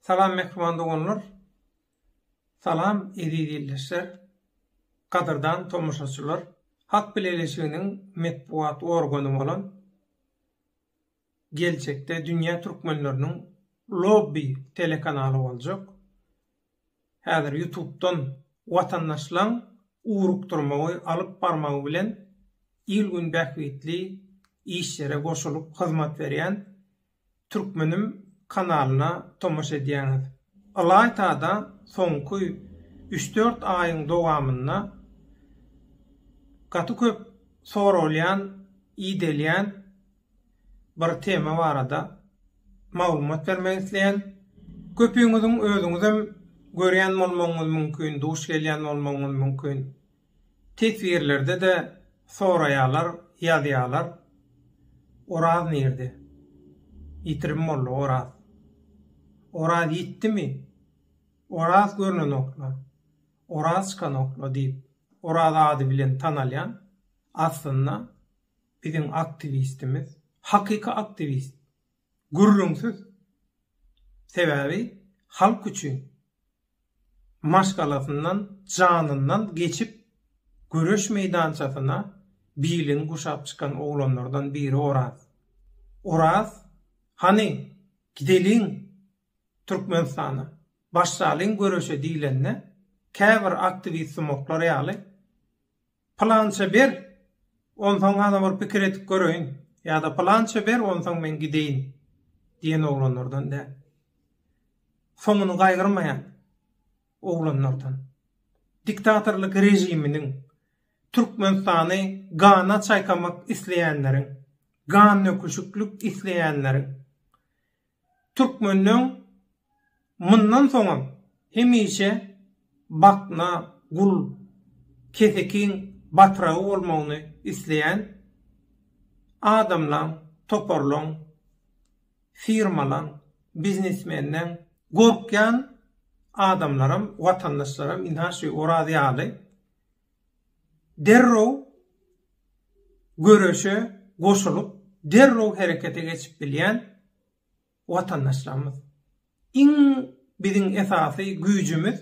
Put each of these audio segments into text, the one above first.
Salam mähriban doganlar. Salam eziz ildeşler. Gadyrdan tomaşaçylar. Halk Bileleşiginiň metbugat organy bolan geljekde dünýä türkmenleriniň lobby telekanaly boljak. Häzir ýutubdan watandaşlaň ugrukdyrmagy alyp barmagy bilen il-gün bähbitli işlere goşulyp hyzmat berýän Türkmenim kanalyna tomaşa edýäňiz. Ylaýta-da soňky üç-dört aýyň dowamynda gaty köp soralýan, ideýlýän bir tema barada maglumat bermek isleýän. Köpüňiziň özüňizem görýän bolmagyňyz mümkin, duş gelýän bolmagyňyz mümkin. Teswirlerde-de soraýalar, ýazýalar, Oraz nirde? Ýitirim boldy Oraz. Oraz ýitdimi? Oraz görnenok-la, Oraz çykanok-la diýip, Oraz ady bilen tanalýan, aslynda, biziň aktiwistimiz, hakyky aktiwist, gürrüňsiz. Sebäbi, halk üçin, maşgalasyndan, janyndan geçip, göreş meýdançasyna bilini guşap çykan oglanlardan biri Oraz. Oraz, hany, gideliň Türkmenistana, başlalyň göreşe diýlende, käbir aktiwist-sumaklar ýaly, Pylança ber, onsoň gana bir pikir edip göreýin ýa-da Pylança ber, onsoň men gideýin diýen oglanlardan däl. Soňuny gaýgyrmaýan oglanlardan. Diktatorlyk režiminiň Türkmenistany gana çaýkamak isleýänleriň, gandöküşiklik isleýänleriň, Türkmenleň mundan soňam hemişe Batna gul, kesekiň batragy bolmagyny isleýän adamlaň, toparlaň, firmalaň, biznesmenleň, gorkýan adamlaram, watandaşlaram ynha şu Oraz ýaly derrew göreşe goşulyp, derrew herekete geçip bilýän watandaşlarymyz. Iň biziň esasy güýjümiz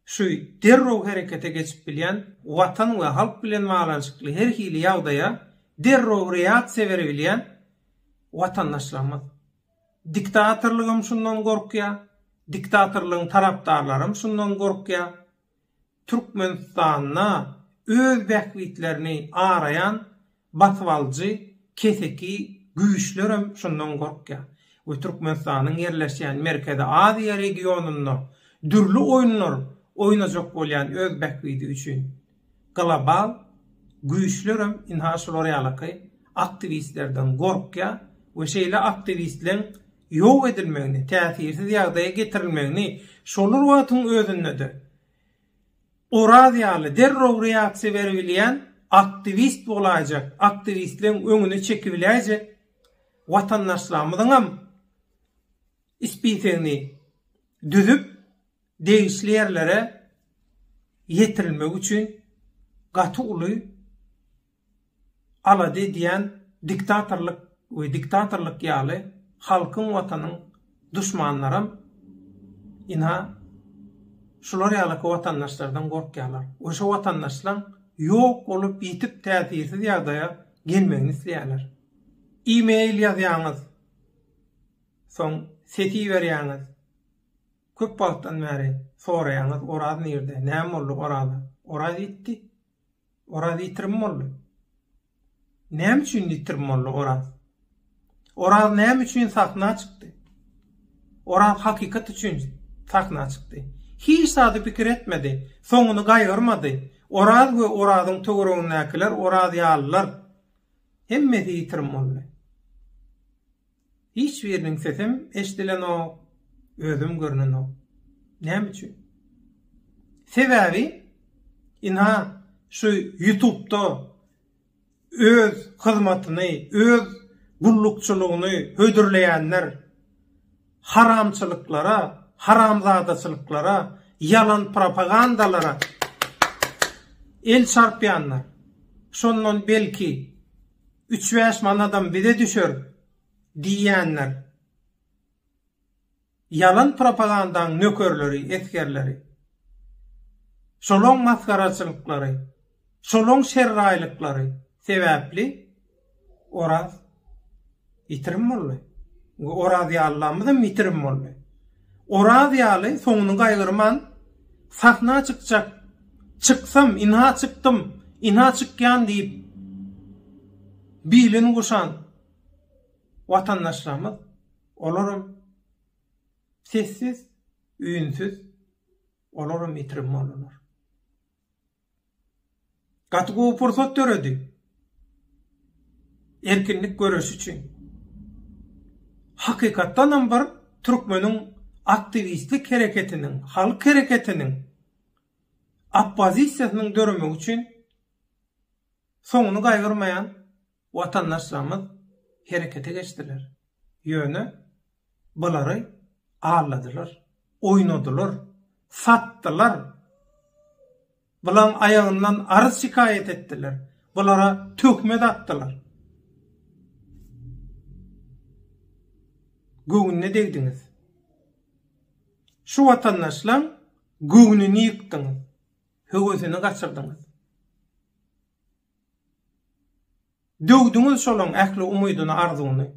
şu derrew herekete geçip bilýän watan we halk bilen baglanyşykly her hili ýagdaýa derrew reaksiýa berebilýän watandaşlarymyz. Diktatorlygam şundan gorkýar, diktatorlygyň tarapdarlaram şundan gorkýar. Türkmenistanda öz bähbitlerini araýan basybalyjy keseki güýçlerem şundan gorkýar we Türkmenistanyň ýerleşýän Merkezi Aziýa regionynda dürli oýunlar oýnajak bolýan öz bähbidi üçin global güýçlerem ynha şular ýalaky aktiwistlerden gorkýar we şeýle aktiwistleň ýok edilmegini, täsirsiz ýagdaýa getirilmegini şolar wagtyň özünde-de Oraz ýaly derrew reaksiýa beribilýän aktiwist bolaýjak, aktiwistleň öňüni çekibiläýjek watandaşlarymyzyňam spisegini düzüp, degişli ýerlere ýetirilmegi üçin gaty uly alada edýän diktatorlyk we diktatorlyk ýaly halkyň watanyň duşmanlaram ina şular ýalaky watandaşlardan gorkýarlar we şo watandaşlaň ýok bolup ýitip täsirsiz ýagdaýa gelmegini isleýärler e-mail ýazýaňyz soň ses iberýäňiz köp wagtdan bäri soraýaňyz Oraz nirde näme boldy Oraza Oraz ýitdi Oraz ýitirim boldy. Näme üçin ýitirim boldy Oraz? Oraz näme üçin sahna çykdy? Oraz hakykat üçin sahna çykdy. Hiç zady pikir etmedi, soňuny gaýgyrmady. Oraz we Orazyň töweregindäkiler, Oraz ýalylar hemmesi ýitirim boldy. Hiç biriniň sesem eşdilenok, özüm görnenok. Näme üçin? Sebäbi, ynha, şu Ýutubda öz hyzmatyny, öz gullukçylygyny hödürleýänler haramçylyklara, haramzadaçylyklara, ýalan propagandalara el çarpýanlar. Şondan belki, Üç-bäş manadam bize düşer diýýänler ýalan propagandaň nökerleri, esgerleri. Şolaň masgaraçylyklary, şolaň şerraýlyklary sebäpli Oraz Ýitirim boldy. We Orazýallamyzam ýitirim boldy. Orazýaly soňuny gaýgyrman sahna çykjak. Çyksam, ynha çykdym, ynha çykýan diýip bilini guşan watandaşlarymyz, olaram sessiz, üýnsüz, olaram ýitirim boldular. Gaty gowy pursat döredi. Erkinlik göreşi üçin. Hakykatdan hem bir türkmeniň aktiwistlik hereketiniň, halk hereketiniň oppozisiýasynyň döremegi üçin soňuny gaýgyrmaýan Watandaşlarymyz herekete geçdiler. Ýöne bulary alladylar, oýnadylar, satdylar. Bularyň aýagyndan arz-şikaýat etdiler, bulara töhmet atdylar. Göwnüne degdiňiz. Şu watandaşlaryň göwnüni ýykdyňyz, höwesini gaçyrdyňyz. Döwdüňiz şolaň ähli umydyny arzuwyny.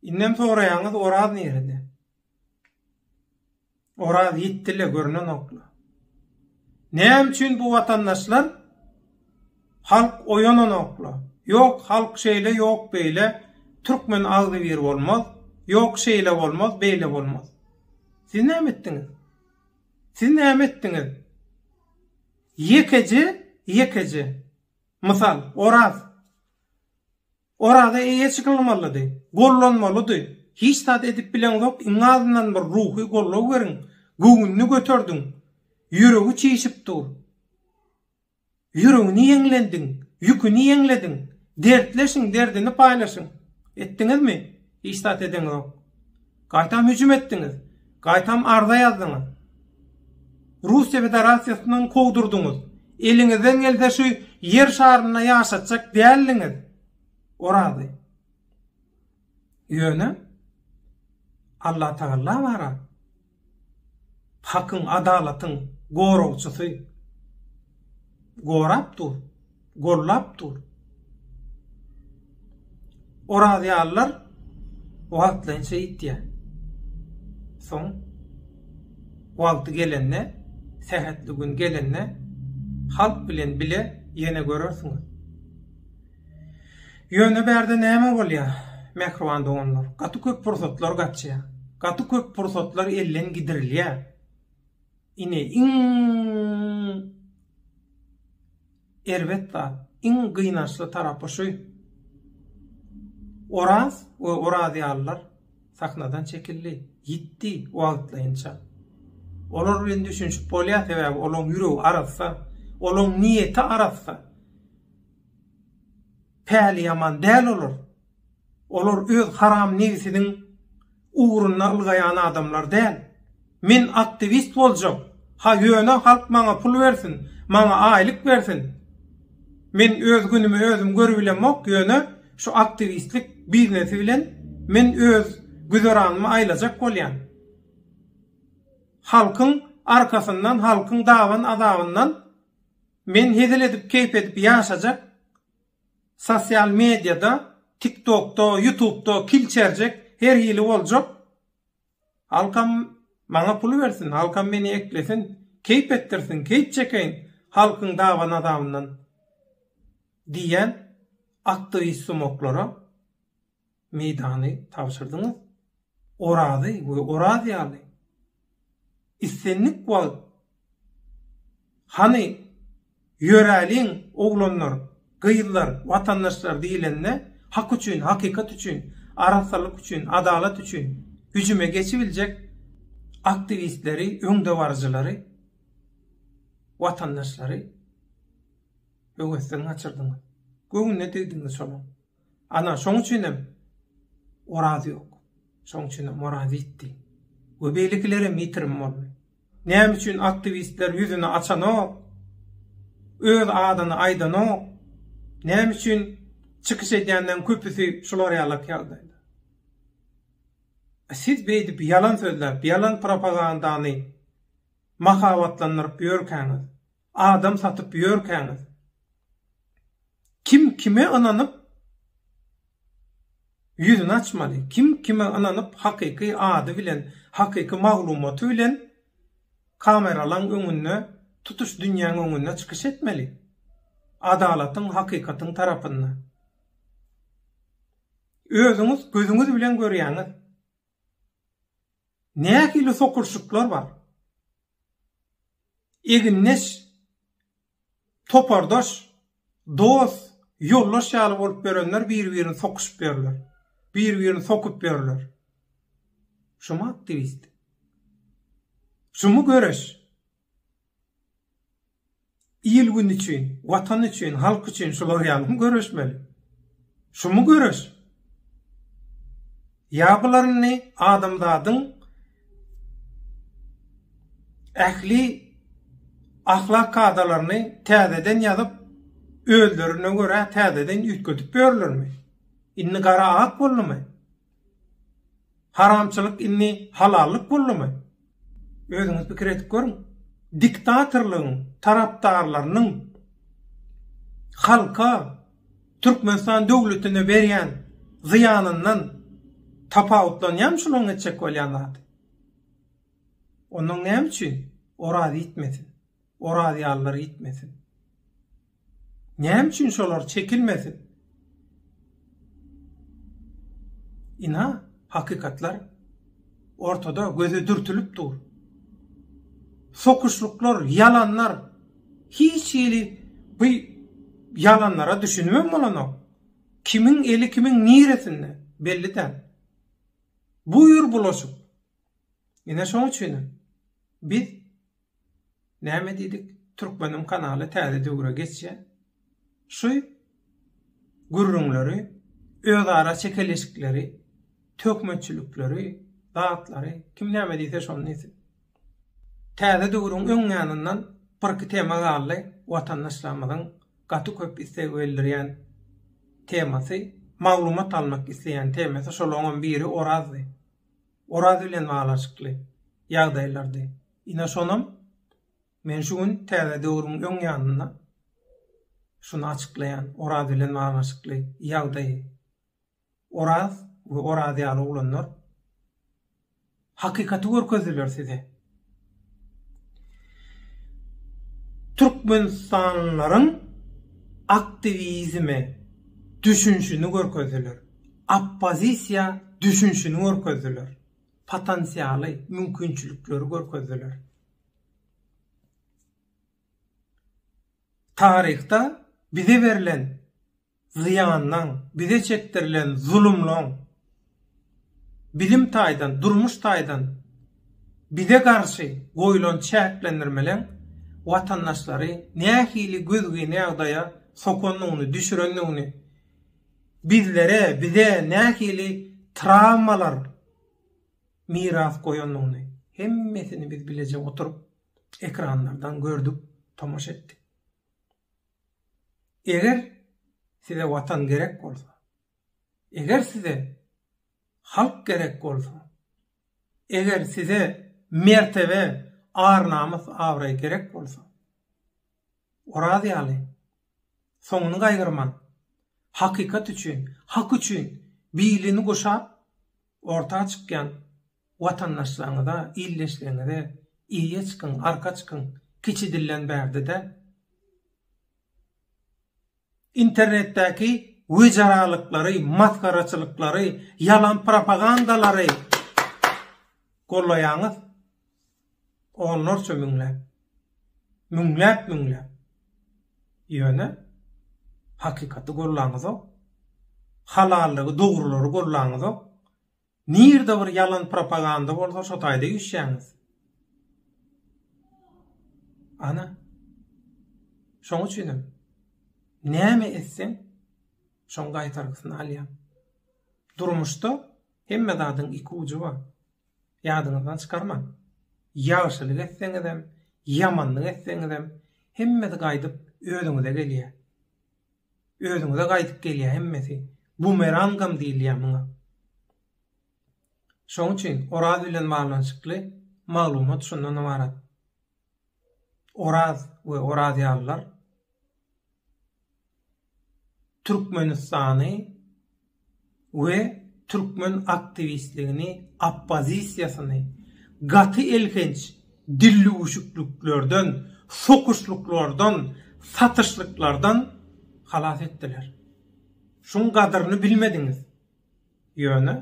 Indem soraýaňyz Oraz nirede? Oraz ýitdile görnenokla. Näme üçin bu watandaşlar halk oýananokla. Ýok halk şeýle ýok beýle türkmen agzybir bolmaz. Ýok şeýle bolmaz beýle bolmaz. Siz näme etdiňiz? Siz näme etdiňiz? Ýekeje, ýekeje. Mysal, Oraz. Oraza eýe çykylmalydy. Gollanmalydy. Hiç zat edip bileňzok, iň azyndan bir ruhy goldaw beriň. Göwnüni göterdiň. Ýüregi çişip dur. Ýüregini ýeňlendiň. Ýüküni ýeňlediň. Dertleşiň, derdini paýlaşyň. Etdiňizmi? Hiç zat edeňizok. Gaýtam hüjüm etdiňiz. Gaýtam arza ýazdyňyz. Russiýa Federasiýasyny kowdurdyňyz. Eliňizden gelse şu ýer şarynda ýaşatjak däldiňiz. Orazy. Ýöne Allatagalla bara Hakyň, adalatyň goragçysy gorap dur, gollap dur. Orazýallar wagtlaýyn şeýtýär. Soň wagty gelende, sähetli gün gelende halk bilen bile ýene görersiňiz. Ýöne bärde näme bolýar, mähriban doganlar? Gaty köp pursatlar gaçýar. Gaty köp pursatlar elden gidirilýär. Ine, iň erbet zat, iň gynançly tarapy şu. Oraz we Oraz ýalylar sahnadan çekildi, ýitdi wagtlaýynça. Olar bilen düşünişip bolýar, sebäbi olaryň ýüregi arassa, olaryň niýeti arassa. Päliýaman däl olar. Olar öz haram nebsiniň ugrunda ylgaýan adamlar däl. Men aktiwist boljak. Ha ýöne halk maňa pul bersin, maňa aýlyk bersin. Men öz günümi özüm görübilemok, ýöne şu aktiwistlik biznesi bilen men öz güzeranymy aýlajak bolýan. Halkyň arkasyndan, halkyň daban-azabyndan. Men hezil edip keýp edip ýaşajak sosial mediýada tiktokda ýutubda kil çerjek her hili boljak halkam maňa pul bersin halkam meni eklesin keýp etdirsin keýp çekeýin halkyň dawa nazabyndan diýýän aktiwist sumoklara. meýdany tabşyrdyňyz. Orazy we Oraz ýaly islendik wagt Hany, ýöräliň, oglanlar, gyzlar, watandaşlar diýlende, hak üçin, hakykat üçin, arassalyk üçin, adalat üçin hüjüme geçibiljek aktiwistleri, öňdebaryjylary, watandaşlary höwesden gaçyrdyňyz. Göwnüne degdiňiz şolaň. Ana, şoň üçinem Oraz ýok. Şoň üçinem Oraz ýitdi. We beýlekilerem ýitirim boldy. Näme üçin aktiwistler ýüzüni açanok? Öz adyny aýdanok? Näme üçin çykyş edýänleriň köpüsi şular ýalak ýagdaýda? Siz beýdip ýalan sözläp, ýalan propagandany mahabatlandyryp ýörkäňiz, Adam satyp ýörkäňiz kim kime ynanyp ýüzüni açmaly? Kim kime ynanyp hakyky ady bilen, hakyky maglumaty bilen kameralaň öňünde, tutuş dünýäň öňünde çykyş etmeli? Adalatyň, hakykatyň tarapynda. Özüňiz gözüňiz bilen görýäňiz. Nähili sokulşyklar bar? Egindeş, topardaş, dost, ýoldaş ýaly bolup ýörenler bir-birini sokuşyp ýörler. Bir-birini sokup ýörler. Şumy aktiwist? Şumy göreş? Il-gün üçin, Watan üçin, halk üçin şular ýalymy göreşmeli? Şumy göreş? Ýa bularyny adamzadyň ähli ahlak kadalaryny täzeden ýazyp, özlerine görä täzeden üýtgedip ýörlermi? Indi gara ak boldumy? Haramçylyk indi halallyk boldumy? Özüňiz pikir edip görüň. Diktatorlygyň tarapdarlarynyň halka Türkmenistan döwletine berýän zyýanyndan tapawutlanýarmy şularyň etjek bolýan zady? Onuň näme üçin Oraz iýtmesin? Orazýalylar gitmesin. Näme üçin şolar çekilmesin? Ina, hakykatlar ortada göze dürtülip dur. Sokuşluklar, yalanlar, hiç hili bu yalanlara düşünmem bolanok. Kimin eli kimin niresinde belli däl. Buyur bulaşyk. Ine şoň üçin biz Näme diýdik? Türkmeniň kanaly täze döwre geçýär. Şu gürrüňleri, özara çekeleşikleri, töhmetçilikleri, zatlary, kim näme diýse şony diýsin. Täze döwrüň öň ýanyndan birki tema galdy, watandaşlarymyzyň gaty köp isleg bildirýän temasy, maglumat almak isleýän temasy, şolaňam biri Orazdy. Oraz bilen baglanyşykly ýagdaýlardy. Ine şonam men şu gün Täze döwrüň öň ýanynda şuny açyklaýan Oraz bilen baglanyşykly ýagdaýy. Oraz we Oraz ýaly oglanlar hakykaty görkezdiler size. Türkmenistanlylaryň aktiwizime düşünşini görkezdiler, oppozisiýa düşünşini görkezdiler, potensialy, mümkinçilikleri görkezdiler. Taryhda bize berlen zyýanlaň, bize çekdirilen zulumlaň, bilim taýdan, durmuş taýdan bize garşy goýlan çäklendirmeleň watandaşlary nähili gözgyny ýagdaýa sokandygyny, düşürendigini, bizlere, bize nähili trawmalar miras goýandygyny hemmesini biz bileje oturyp ekranlardan gördük, tomaşa etdik. Eger size watan gerek bolsa, eger size halk gerek bolsa, eger size mertebe, ar-namys, abraý gerek bolsa, Oraz ýaly, soňuny gaýgyrman, hakykat üçin, hak üçin bilini guşap, orta çykýan Watandaşlaryňyza, ildeşleriňize eýe çykyň, arka çykyň, kiçi dilden bärde-de internetdäki wejeraliklary, masgaraçylyklary, ýalan propagandalary gollaýaňyz. Onlarça müňläp, müňläp-müňläp. Ýöne hakykaty gollaňyzok. Halallygy, dogrulary gollaňyzok. Nirde bir ýalan propaganda bolsa şo taýda üýşýäňiz. Ana. Şoň üçinem näme etseň şoň gaýtargysyny alýaň. Durmuşda hemme zadyň iki ujy bar. Ýadyňyzdan çykarmaň. Ýagşylyk etseňizem, ýamanlyk etseňizem hemmesi gaýdyp özüňize gelýär. Özüňize gaýdyp gelýär hemmesi. Bumerangam diýilýär muňa. Şoň üçin Oraz bilen baglanyşykly maglumat şundan ybarat. Oraz we Orazýalylar Türkmenistany we türkmen aktiwistligini, oppozisiýasyny gaty elhenç dillüwüşikliklerden, sokuşlyklardan, satyşlyklardan halas etdiler. Şuň gadyryny bilmediňiz. Ýöne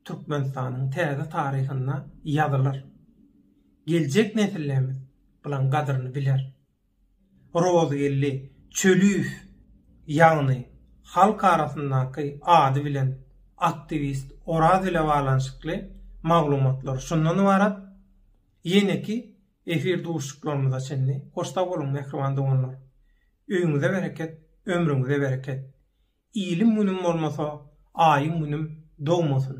Türkmenistanyň täze taryhynda ýazylar. Geljek nesillemiz bulaň gadyryny biler. Rozgeldi Çölüýew ýagny halk arasyndaky ady bilen aktiwist Oraz ile baglanyşykly maglumatlar şundan ybarat. Ýeneki efir duşuşyklarymyza çenli hoş sag boluň mähriban doganlar. Öýüňize bereket, ömrüňize bereket. Ilim-günüm bolmasa, aýym-günüm dogmasyn.